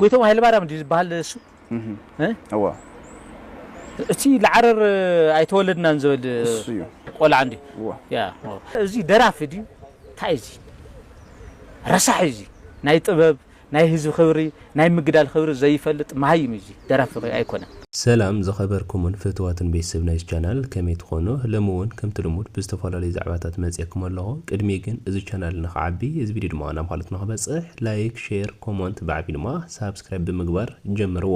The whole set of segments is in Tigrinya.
ጎይቶኦም ሃይለማርያም ድዩ ዝበሃል ንሱ? እወ። እቲ ልዓረር ኣይተወለድናን ዝበል ቆልዓ እንድዩ። እወ። እዚ ደራፊ ድዩ ታይ እዚ ረሳሕ እዩ እዚ ናይ ጥበብ ናይ ህዝቢ ክብሪ ናይ ምግዳል ክብሪ ዘይፈልጥ መሃይም እዩ እዚ ደራፊ ኣይኮነን። ሰላም ዝኸበርኩሙን ፍትዋትን ቤተሰብ ናይዚ ቻናል ከመይ ትኾኑ ለሚ ውን ከምቲ ልሙድ ብዝተፈላለዩ ዛዕባታት መፅኤኩም ኣለኹ ቅድሚ ግን እዚ ቻናል ንኽዓቢ እዚ ቪድዮ ድማ ናብ ኻልኦት ንኽበፅሕ ላይክ ሼር ኮሞንት ብዓብዩ ድማ ሳብስክራይብ ብምግባር ጀምርዎ።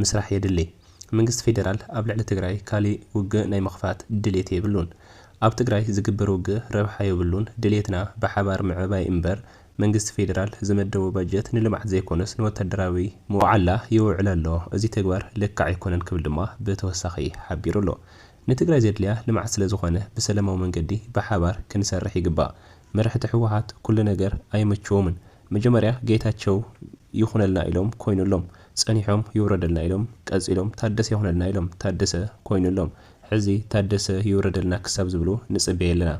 ምስራሕ የድሊ። መንግስቲ ፌዴራል ኣብ ልዕሊ ትግራይ ካሊእ ውግእ ናይ ምኽፋት ድሌት የብሉን። ኣብ ትግራይ ዝግበር ውግእ ረብሓ የብሉን። ድሌትና ብሓባር ምዕባይ እምበር መንግስቲ ፌዴራል ዝመደቦ ባጀት ንልምዓት ዘይኮነስ ንወታደራዊ መውዓላ የውዕሎ ኣሎ። እዚ ተግባር ልክዕ ኣይኮነን ክብል ድማ ብተወሳኺ ሓቢሩ ኣሎ። ንትግራይ ዘድልያ ልምዓት ስለዝኾነ ብሰለማዊ መንገዲ ብሓባር ክንሰርሕ ይግባእ። መራሕቲ ህወሓት ኩሉ ነገር ኣይመችዎምን። መጀመርያ ጌታቸው ይኹነልና ኢሎም ኮይኑሎም ፀኒሖም ይውረደልና ኢሎም ቀፂሎም ታደሰ ይኹነልና ኢሎም ታደሰ ኮይኑሎም ሕዚ ታደሰ ይውረደልና ክሳብ ዝብሉ ንፅበ የለና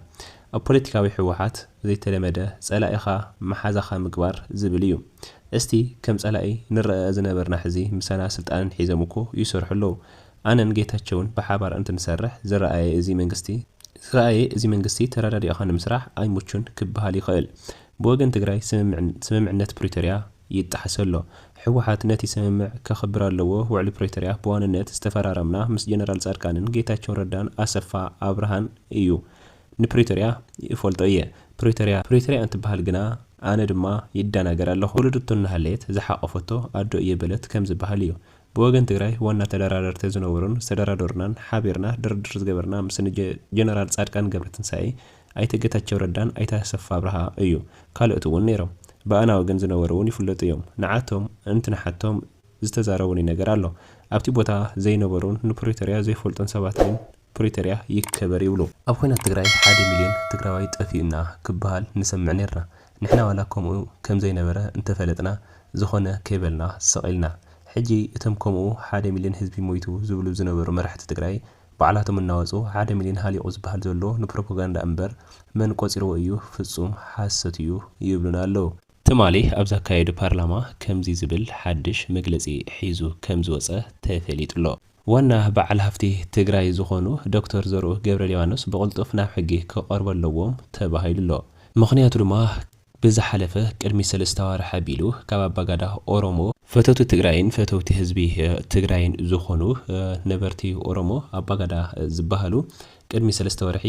ኣብ ፖለቲካዊ ህወሓት ዘይተለመደ ፀላኢኻ መሓዛኻ ምግባር ዝብል እዩ እስቲ ከም ፀላኢ ንረኣ ዝነበርና ሕዚ ምሳና ስልጣንን ሒዞም እኮ ይሰርሑ ኣለው ኣነን ጌታቸውን ብሓባር እንትንሰርሕ ዝረኣየ እዚ መንግስቲ ዝረኣየ እዚ መንግስቲ ተረዳዲእኻ ንምስራሕ ኣይምቹን ክበሃል ይኽእል ብወገን ትግራይ ስምምዕነት ፕሪቶርያ ይጣሓስ ኣሎ። ህወሓት ነቲ ስምምዕ ከኽብር ኣለዎ፣ ውዕሊ ፕሪቶርያ ብዋንነት ዝተፈራረምና ምስ ጀነራል ፃድቃንን ጌታቸው ረዳን ኣሰፋ ኣብርሃን እዩ። ንፕሪቶርያ ይእፈልጦ እየ። ፕሪቶርያ ፕሪቶርያ እንትበሃል ግና ኣነ ድማ ይደናገር ኣለኹ። ወለደቶ እናሃለየት ዝሓቖፈቶ ኣዶ እየ በለት ከም ዝበሃል እዩ። ብወገን ትግራይ ዋና ተደራደርቲ ዝነበሩን ዝተደራደሩናን ሓቢርና ድርድር ዝገበርና ምስ ጀነራል ፃድቃን ገብረትንሳኤ፣ ኣይተ ገታቸው ረዳን ኣይተ ኣሰፋ ኣብርሃ እዩ ካልኦት እውን ነይሮም ብኣናዊ ግን ዝነበሩ እውን ይፍለጡ እዮም ንዓቶም እንትንሓቶም ዝተዛረቡኒ ነገር ኣሎ ኣብቲ ቦታ ዘይነበሩን ንፕሪቶርያ ዘይፈልጡን ሰባት ግን ፕሪቶርያ ይከበር ይብሉ። ኣብ ኹናት ትግራይ ሓደ ሚልዮን ትግራዋይ ጠፊኡ እና ክበሃል ንሰምዕ ነይርና ንሕና ዋላ ከምኡ ከምዘይነበረ እንተፈለጥና ዝኾነ ከይበልና ስቕ ኢልና ሕጂ እቶም ከምኡ ሓደ ሚልዮን ህዝቢ ሞይቱ ዝብሉ ዝነበሩ መራሕቲ ትግራይ ባዕላቶም እናወጹ ሓደ ሚልዮን ሃሊቑ ዝበሃል ዘሎ ንፕሮፖጋንዳ እምበር መን ቆጺርዎ እዩ ፍጹም ሓሶት እዩ ይብሉና ኣለዉ። ትማሊ ኣብ ዘካየዱ ፓርላማ ከምዚ ዝብል ሓድሽ መግለጺ ሒዙ ከም ዝወጸ ተፈሊጡ ኣሎ። ዋና በዓል ሃፍቲ ትግራይ ዝኾኑ ዶክተር ዘርኡ ገብረሊባኖስ ብቕልጡፍ ናብ ሕጊ ክቐርቡ ኣለዎም ተባሂሉ ኣሎ። ምኽንያቱ ድማ ብዝሓለፈ ቅድሚ ሰለስተ ኣዋርሕ ኣቢሉ ካብ ኣባጋዳ ኦሮሞ፣ ፈተውቲ ትግራይን ፈተውቲ ህዝቢ ትግራይን ዝኾኑ ነበርቲ ኦሮሞ ኣባጋዳ ዝበሃሉ ቅድሚ ሰለስተ ወርሒ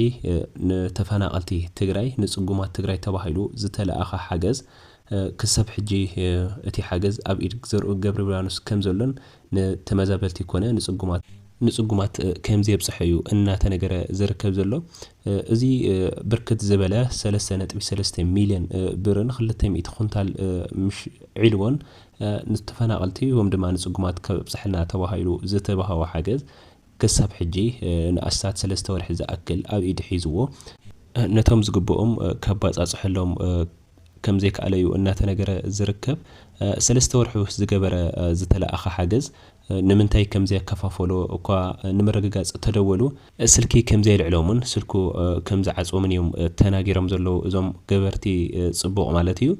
ንተፈናቐልቲ ትግራይ ንፅጉማት ትግራይ ተባሂሉ ዝተለኣኸ ሓገዝ ክሰብ ሕጂ እቲ ሓገዝ ኣብ ኢድ ዘርኡ ገብረብርያኖስ ከምዘሎን ንተመዛበልቲ ኮነ ንጽጉማት ንጽጉማት ከምዘየብጽሐ እዩ እናተነገረ ዝርከብ ዘሎ። እዚ ብርክት ዝበለ ሰለስተ ነጥቢ ሰለስተ ሚልዮን ብርን ክልተ ሚእቲ ኩንታል ምሽ ዒልቦን ንተፈናቐልቲ ወም ድማ ንጽጉማት ከብጽሐልና ተባሂሉ ዝተባህወ ሓገዝ ክሳብ ሕጂ ንኣስታት ሰለስተ ወርሒ ዝኣክል ኣብ ኢዱ ሒዝዎ ነቶም ዝግብኦም ከባጻጽሐሎም ከምዘይከኣለ'ዩ እናተነገረ ዝርከብ። ሰለስተ ወርሒ ምስ ዝገበረ ዝተለኣኸ ሓገዝ ንምንታይ ከምዘይኣከፋፈሎ እኳ ንምርግጋጽ እተደወሉ፣ ስልኪ ከምዘይልዕሎምን ስልኩ ከምዝዓጽወምን እዮም ተናጊሮም ዘለዉ እዞም ገበርቲ ጽቡቕ ማለት እዩ።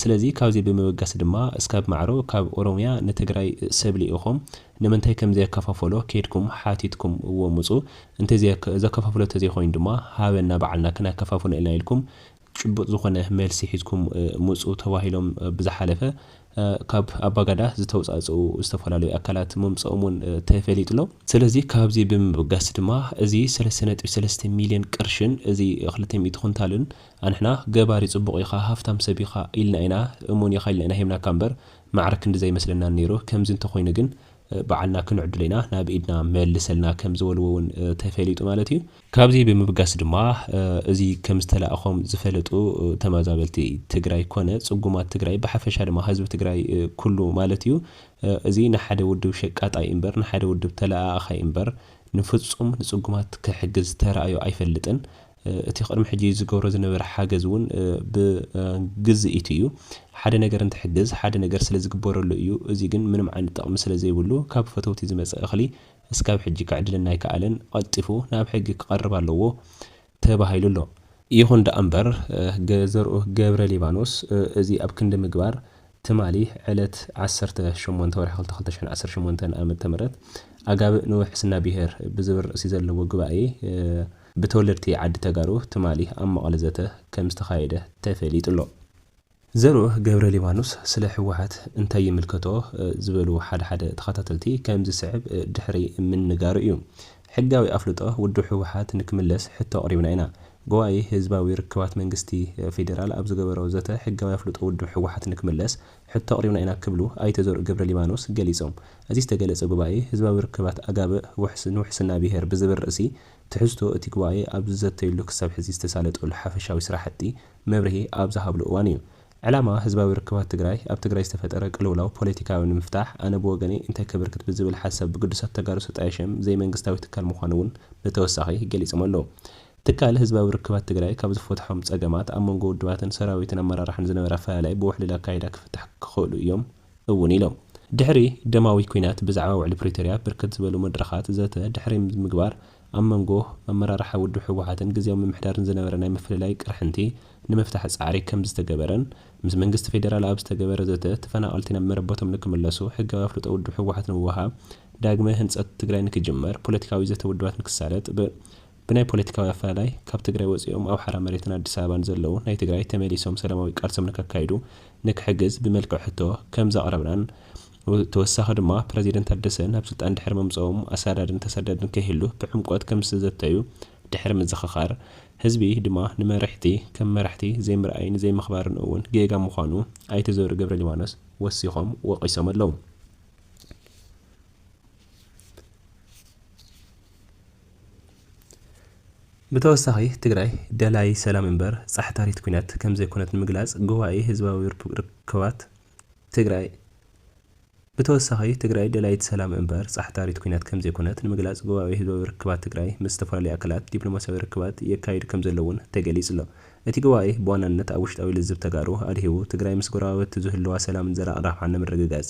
ስለዚ ካብዚ ብምብጋስ ድማ እስካብ ማዕሮ ካብ ኦሮምያ ንትግራይ ሰብ ልኢኾም ንምንታይ ከምዘይኣከፋፈሎ ኬድኩም ሓቲትኩም እዎ ምጹ፣ እንተዘይ ዘከፋፍሎ ተዘይኮይኑ ድማ ሃበና ባዕልና ክናከፋፍኖ ኢና ኢልኩም ጭቡጥ ዝኾነ መልሲ ሒዝኩም ምጹ ተባሂሎም ብዝሓለፈ ካብ ኣባጋዳ ዝተውጻእጸኡ ዝተፈላለዩ ኣካላት ምምጸኦም እውን ተፈሊጡ'ሎ። ስለዚ ካብዚ ብምብጋስ ድማ እዚ ሰለስተ ነጥቢ ሰለስተ ሚልዮን ቅርሽን እዚ ክልተ ሚእቲ ኩንታልን ኣንሕና ገባሪ ጽቡቕ ኢኻ ሃፍታም ሰብ ኢኻ ኢልና ኢና እሙን ኢኻ ኢልና ኢና ሂብናካ እምበር ማዕረ ክንድዚ ኣይመስለናን ነይሩ ከምዚ እንተኾይኑ ግን ባዕልና ክንዕድሎ ኢና ናብ ኢድና መልሰልና ከምዝበልዎ እውን ተፈሊጡ ማለት እዩ። ካብዚ ብምብጋስ ድማ እዚ ከምዝተላእኾም ዝፈለጡ ተማዛበልቲ ትግራይ ኮነ ፅጉማት ትግራይ ብሓፈሻ ድማ ህዝቢ ትግራይ ኩሉ ማለት እዩ እዚ ንሓደ ውድብ ሸቃጣይ እምበር ንሓደ ውድብ ተለኣኣኻይ እምበር ንፍፁም ንፅጉማት ክሕግዝ ተራእዮ ኣይፈልጥን። እቲ ቅድሚ ሕጂ ዝገብሮ ዝነበረ ሓገዝ እውን ብግዝኢቱ እዩ። ሓደ ነገር እንትሕግዝ ሓደ ነገር ስለዝግበረሉ እዩ። እዚ ግን ምንም ዓይነት ጥቕሚ ስለዘይብሉ ካብ ፈተውቲ ዝመፀ እኽሊ እስካብ ሕጂ ክዕድለና ኣይከኣለን፣ ቐልጢፉ ናብ ሕጊ ክቐርብ ኣለዎ ተባሂሉ ኣሎ። ይኹን ደኣምበር ዘርኡ ገብረሊባኖስ እዚ ኣብ ክንዲ ምግባር ትማሊ ዕለት ዓሰርተ ሸሞንተ ወርሒ ክልተ ክልተ ሽሕን ዓሰርተ ሸሞንተን ኣመተ ምህረት ኣጋብእ ንውሕስና ብሄር ብዝብል ርእሲ ዘለዎ ጉባኤ ብተወለድቲ ዓዲ ተጋሩ ትማሊ ኣብ መቐለ ዘተ ከምዝተኻየደ ተፈሊጡ ኣሎ። ዘርኡ ገብረሊባኖስ ስለ ህወሓት እንታይ ይምልከቶ ዝበሉ ሓደ ሓደ ተኸታተልቲ ከም ዝስዕብ ድሕሪ ምንጋሩ እዩ። ሕጋዊ ኣፍልጦ ውድብ ህወሓት ንክምለስ ሕቶ ኣቕሪብና ኢና። ጉባኤ ህዝባዊ ርክባት መንግስቲ ፌዴራል ኣብ ዝገበሮ ዘተ ሕጋዊ ኣፍልጦ ውድብ ህወሓት ንክምለስ ሕቶ ኣቕሪብና ኢና ክብሉ ኣይተ ዘርኡ ገብረሊባኖስ ገሊፆም። እዚ ዝተገለፀ ጉባኤ ህዝባዊ ርክባት ኣጋብእ ንውሕስና ብሄር ብዝብል ርእሲ ትሕዝቶ እቲ ጉባኤ ኣብ ዝዘተዩሉ ክሳብ ሕዚ ዝተሳለጠሉ ሓፈሻዊ ስራሕቲ መብርሂ ኣብ ዝሃብሉ እዋን እዩ። ዕላማ ህዝባዊ ርክባት ትግራይ ኣብ ትግራይ ዝተፈጠረ ቅልውላው ፖለቲካዊ ንምፍታሕ ኣነ ብወገነይ እንተ ክብርክት ብዝብል ሓሳብ ብግዱሳት ተጋሩ ዝተጣየ ሽም ዘይመንግስታዊ ትካል ምዃኑ እውን ብተወሳኺ ገሊፆም ኣለው። ትካል ህዝባዊ ርክባት ትግራይ ካብ ዝፈትሖም ፀገማት ኣብ መንጎ ውድባትን ሰራዊትን ኣመራርሓን ዝነበረ ኣፈላላይ ብውሕሉል ኣካይዳ ክፍታሕ ክኽእሉ እዮም እውን ኢሎም። ድሕሪ ደማዊ ኲናት ብዛዕባ ውዕሊ ፕሪቶርያ ብርክት ዝበሉ መድረኻት ዘተ ድሕሪ ምግባር ኣብ መንጎ ኣመራርሓ ውድብ ህወሓትን ግዝያዊ ምምሕዳርን ዝነበረ ናይ ምፍልላይ ቅርሕንቲ ንምፍታሕ ፃዕሪ ከምዝተገበረን ምስ መንግስቲ ፌዴራል ኣብ ዝተገበረ ዘተ ተፈናቐልቲ ናብ መረበቶም ንክምለሱ ሕጋዊ ኣፍልጦ ውድብ ህወሓት ንምውሃብ ዳግመ ህንፀት ትግራይ ንክጅመር ፖለቲካዊ ዘተ ውድባት ንክሳለጥ ብ ብናይ ፖለቲካዊ ኣፈላላይ ካብ ትግራይ ወፂኦም ኣብ ሓራ መሬትን ኣዲስ ኣበባን ዘለዉ ናይ ትግራይ ተመሊሶም ሰላማዊ ቃልሶም ንከካይዱ ንክሕግዝ ብመልክዕ ሕቶ ከም ዘቕረብናን ብተወሳኺ ድማ ፕረዚደንት ታደሰ ናብ ስልጣን ድሕሪ ምምፀኦም ኣሳዳድን ተሰዳድን ከይህሉ ብዕምቆት ከም ዝተዘተዩ ድሕሪ ምዝኽኻር ህዝቢ ድማ ንመሪሕቲ ከም መራሕቲ ዘይምርኣይን ዘይምኽባርን እውን ጌጋ ምዃኑ ኣይተ ዘውዱ ገብረሊባኖስ ወሲኾም ወቒሶም ኣለዉ። ብተወሳኺ ትግራይ ደላዪ ሰላም እምበር ፃሕታሪት ኲናት ከምዘይኮነት ንምግላፅ ጉባኤ ህዝባዊ ርክባት ትግራይ ብተወሳኺ ትግራይ ደላዪት ሰላም እምበር ፃሕታሪት ኲናት ከምዘይኮነት ንምግላፅ ጉባኤ ህዝባዊ ርክባት ትግራይ ምስ ዝተፈላለዩ ኣካላት ዲፕሎማሲያዊ ርክባት የካይድ ከምዘሎ እውን ተገሊፁ'ሎ። እቲ ጉባኤ ብዋናነት ኣብ ውሽጣዊ ልዝብ ተጋሩ ኣድሂቡ ትግራይ ምስ ጎረባብቲ ዝህልዋ ሰላምን ዘላቒ ረብሓን ንምርግጋፅ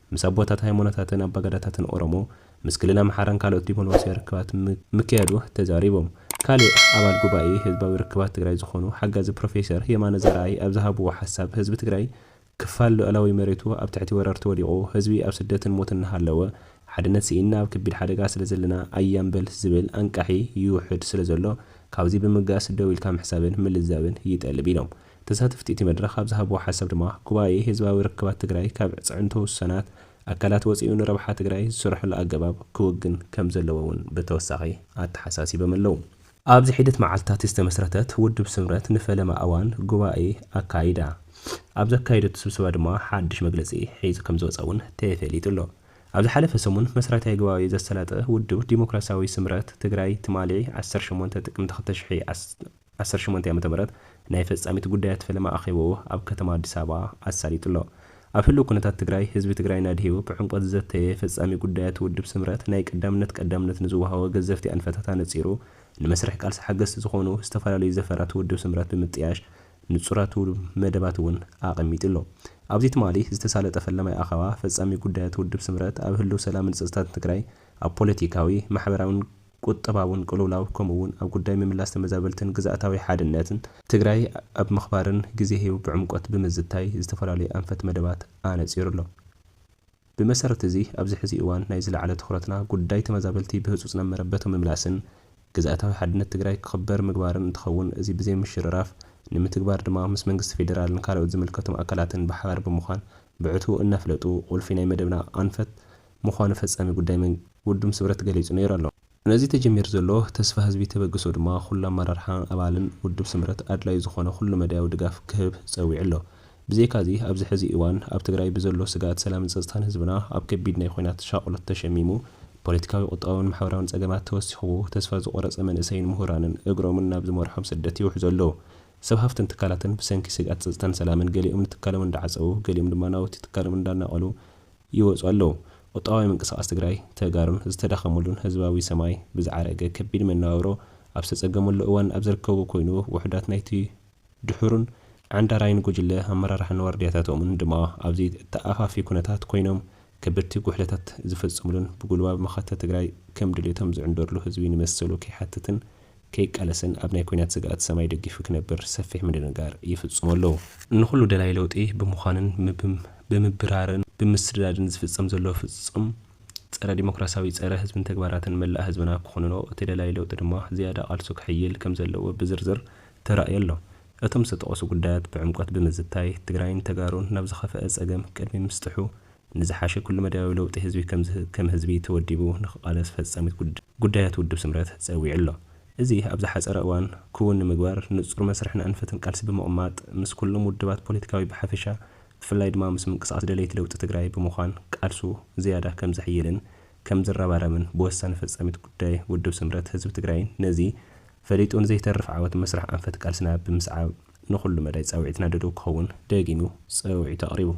ምስ ኣቦታት ሃይማኖታትን ኣባገዳታትን ኦሮሞ፣ ምስ ክልል ኣምሓራን ካልኦት ዲፕሎማሲያዊ ርክባት ምክያዱ ተዛሪቦም። ካሊእ ኣባል ጉባኤ ህዝባዊ ርክባት ትግራይ ዝኾኑ ሓጋዚ ፕሮፌሰር የማነ ዘርኣይ ኣብ ዝሃብዎ ሓሳብ ህዝቢ ትግራይ ክፋል ሉኣላዊ መሬቱ ኣብ ትሕቲ ወረርቲ ወዲቑ ህዝቢ ኣብ ስደትን ሞትን እናሃለወ ሓድነት ስኢንና ኣብ ከቢድ ሓደጋ ስለዘለና ኣያምበል ዝብል ኣንቃሒ ይውሕድ ስለዘሎ ካብዚ ብምብጋስ ደው ኢልካ ምሕሳብን ምልዛብን ይጠልብ ኢሎም። ተሳተፍቲ እቲ መድረኽ ኣብ ዝሃብዎ ሓሳብ ድማ፣ ጉባኤ ህዝባዊ ርክባት ትግራይ ካብ ኣዕፅዕንቶ ውሱናት ኣካላት ወፂኡ ንረብሓ ትግራይ ዝስርሐሉ ኣገባብ ክውግን ከምዘለዎ እውን ብተወሳኺ ኣተሓሳሲቦም ኣለው። ኣብዚ ሒደት መዓልትታት ዝተመስረተት ውድብ ስምረት ንፈለማ እዋን ጉባኤ ኣካይዳ። ኣብ ዘካየደቶ ስብሰባ ድማ ሓዱሽ መግለፂ ሒዙ ከምዝወፀ እውን ተፈሊጡ ኣሎ። ኣብ ዝሓለፈ ሰሙን መስራታይ ጉባኤ ዘሰላጠ ውድብ ዲሞክራሲያዊ ስምረት ትግራይ ትማሊ ዓሰርተ ሸሞንተ ጥቅምቲ ክልተ ሺሕ ዓሰርተ ዓሰርተ ሸሞንተ ዓመተ ምህረት ናይ ፈፃሚት ጉዳያት ፈለማ ኣኼባኡ ኣብ ከተማ ኣዲስ ኣበባ ኣሳሊጡ ኣሎ። ኣብ ህልው ኩነታት ትግራይ ህዝቢ ትግራይን ኣድሂቡ ክዕምቆ ዝዘተየ ፈፃሚ ጉዳያት ውድብ ስምረት ናይ ቀዳምነት ቀዳምነት ንዝወሃቦ ገዘፍቲ ኣንፈታት ኣነፂሩ ንመስርሕ ቃልሲ ሓገዝቲ ዝኾኑ ዝተፈላለዩ ዘፈራት ውድብ ስምረት ብምጥያሽ ንፁራቱ መደባት እውን ኣቐሚጡ ኣሎ። ኣብዚ ትማሊ ዝተሳለጠ ፈለማይ ኣኸባ ፈፃሚ ጉዳያት ውድብ ስምረት ኣብ ህልው ሰላምን ፀፅታትን ትግራይ ኣብ ፖለቲካዊ፣ ማሕበራዊን፣ ቁጠባውን ቅልውላው ከምኡ እውን ኣብ ጉዳይ ምምላስ ተመዛበልትን ግዝኣታዊ ሓድነትን ትግራይ ኣብ ምኽባርን ግዜ ሂቡ ብዕምቆት ብምዝታይ ዝተፈላለዩ ኣንፈት መደባት ኣነፂሩ ኣሎ። ብመሰረት እዚ ኣብዚ ሕዚ እዋን ናይ ዝለዓለ ትኹረትና ጉዳይ ተመዛበልቲ ብህፁፅ ናብ መረበቶም ምምላስን ግዝኣታዊ ሓድነት ትግራይ ክኽበር ምግባርን እንትኸውን እዚ ብዘይምሽርራፍ ንምትግባር ድማ ምስ መንግስቲ ፌዴራልን ካልኦት ዝምልከቶም ኣካላትን ብሓባር ብምዃን ብዕቱቡ እናፍለጡ ቁልፊ ናይ መደብና ኣንፈት ምዃኑ ፈጻሚ ጉዳይ መን ውድም ስምረት ገሊጹ ነይሩ ኣሎ። ነዚ ተጀሚሩ ዘሎ ተስፋ ህዝቢ ተበግሶ ድማ ኩሉ ኣመራርሓ ኣባልን ውድብ ስምረት ኣድላዩ ዝኾነ ኩሉ መዳያዊ ድጋፍ ክህብ ጸዊዑ ኣሎ። ብዘይካዚ ኣብዚ ሕዚ እዋን ኣብ ትግራይ ብዘሎ ስግኣት ሰላምን ጸጥታን ህዝብና ኣብ ከቢድ ናይ ኹናት ሻቕሎት ተሸሚሙ፣ ፖለቲካዊ ቁጠባውን ማሕበራውን ጸገማት ተወሲኽዎ ተስፋ ዝቖረጸ መንእሰይን ምሁራንን እግሮምን ናብ ዝመርሖም ስደት ይውሕዙ ኣለዉ። ሰብ ሃፍትን ትካላትን ብሰንኪ ስግኣት ጸጥታን ሰላምን ገሊኦም ንትካሎም እንዳዓጸዉ ገሊኦም ድማ ናውቲ ትካሎም እንዳናቐሉ ይወጹ ኣለዉ። ቁጠባዊ ምንቅስቓስ ትግራይ፣ ተጋሩን ዝተዳኸሙሉን ህዝባዊ ሰማይ ብዝዓረገ ከቢድ መነባብሮ ኣብ ዝተጸገመሉ እዋን ኣብ ዝርከቡ ኮይኑ ውሑዳት ናይቲ ድሑሩን ዓንዳራይን ጉጅለ ኣመራርሓን ዋርድያታቶምን ድማ ኣብ ዘይተኣፋፊ ኩነታት ኮይኖም ከበድቲ ጉሕለታት ዝፍጽምሉን ብጉልባብ መኸተ ትግራይ ከም ድሌቶም ዝዕንደርሉ ህዝቢ ንመሰሉ ከይሓትትን ከይቃለስን ኣብ ናይ ኲናት ስግኣት ሰማይ ደጊፉ ክነብር ሰፊሕ ምድንጋር ይፍጽሙ ኣለዉ። ንኹሉ ደላይ ለውጢ ብምዃንን ብምብራርን ብምስዳድን ዝፍጸም ዘሎ ፍጹም ጸረ ዲሞክራሲያዊ ጸረ ህዝብን ተግባራትን መላእ ህዝብና ክኹንኖ እቲ ደላይ ለውጢ ድማ ዝያዳ ቃልሱ ክሕይል ከምዘለዎ ብዝርዝር ተራእዩ ኣሎ። እቶም ዝተጠቐሱ ጉዳያት ብዕምቆት ብምዝታይ ትግራይን ተጋሩን ናብ ዝኸፈኣ ጸገም ቅድሚ ምስጥሑ ንዝሓሸ ኩሉ-መዳያዊ ለውጢ ህዝቢ ከም ህዝቢ ተወዲቡ ንክቓለስ ፈጻሚት ጉዳያት ውድብ ስምረት ጸዊዑ ኣሎ። እዚ ኣብ ዝሓጸረ እዋን ክውን ንምግባር ንጹር መስርሕን ኣንፈትን ቃልሲ ብምቕማጥ ምስ ኩሎም ውድባት ፖለቲካዊ ብሓፈሻ ብፍላይ ድማ ምስ ምንቅስቓስ ደለይቲ ለውጢ ትግራይ ብምዃን ቃልሱ ዝያዳ ከም ዘሕይልን ከም ዝረባረብን ብወሳኒ ፈጻሚት ጉዳይ ውድብ ስምረት ህዝቢ ትግራይን ነዚ ፈሊጡ ንዘይተርፍ ዓወት መስርሕ ኣንፈት ቃልስና ብምስዓብ ንኹሉ መዳይ ጻውዒትና ድሉው ክኸውን ደጊሙ ጸውዒቱ ኣቕሪቡ።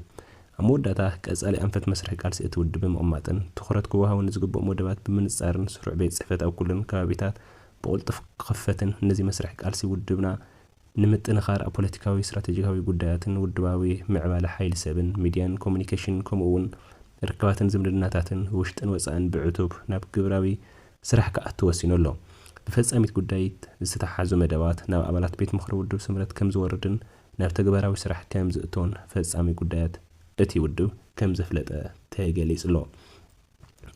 ኣብ መወዳእታ፣ ቀጻሊ ኣንፈት መስርሕ ቃልሲ እቲ ውድብ ብምቕማጥን ትኹረት ክወሃቦ ንዝግብኦም ወደባት ብምንጻርን ስሩዕ ቤት ጽሕፈት ኣብ ኩለን ከባቢታት ብቕልጡፍ ክኽፈትን ነዚ መስርሕ ቃልሲ ውድብና ንምጥንኻር ኣብ ፖለቲካዊ፣ ስትራተጂካዊ ጉዳያትን ውድባዊ ምዕባለ ሓይሊ ሰብን ሚድያን ኮሙኒኬሽንን ከምኡ'ውን ርክባትን ዝምድናታትን ውሽጥን ወጻእን ብዕቱብ ናብ ግብራዊ ስራሕ ክኣቱ ወሲኑ ኣሎ። ብፈጻሚት ጉዳይት ዝተተሓሓዙ መደባት ናብ ኣባላት ቤት ምኽሪ ውድብ ስምረት ከምዝወርድን ናብ ተግባራዊ ስራሕ ከምዝእቶን ፈጻሚ ጉዳያት እቲ ውድብ ከምዘፍለጠ ተገሊጹ'ሎ።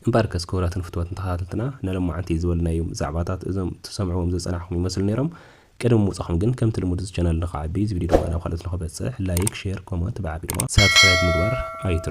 እምበኣርከስ ክቡራትን ፍቱዋትን ተኸታተልትና ንሎማዓንቲ ዝበልናዮም ዛዕባታት እዞም ትሰምዕዎም ዝጸናሕኩም ይመስሉ ነይሮም። ቅድሚ ምውጻኹም ግን ከምቲ ልሙድ እዚ ቻነል ንኽዓቢ እዚ ቪድዮ ድማ ናብ ካልኦት ንኽበጽሕ ላይክ፣ ሼር፣ ኮመንት ብዓቢ ድማ ሳብስክራይብ ምግባር ኣይትረስዑ።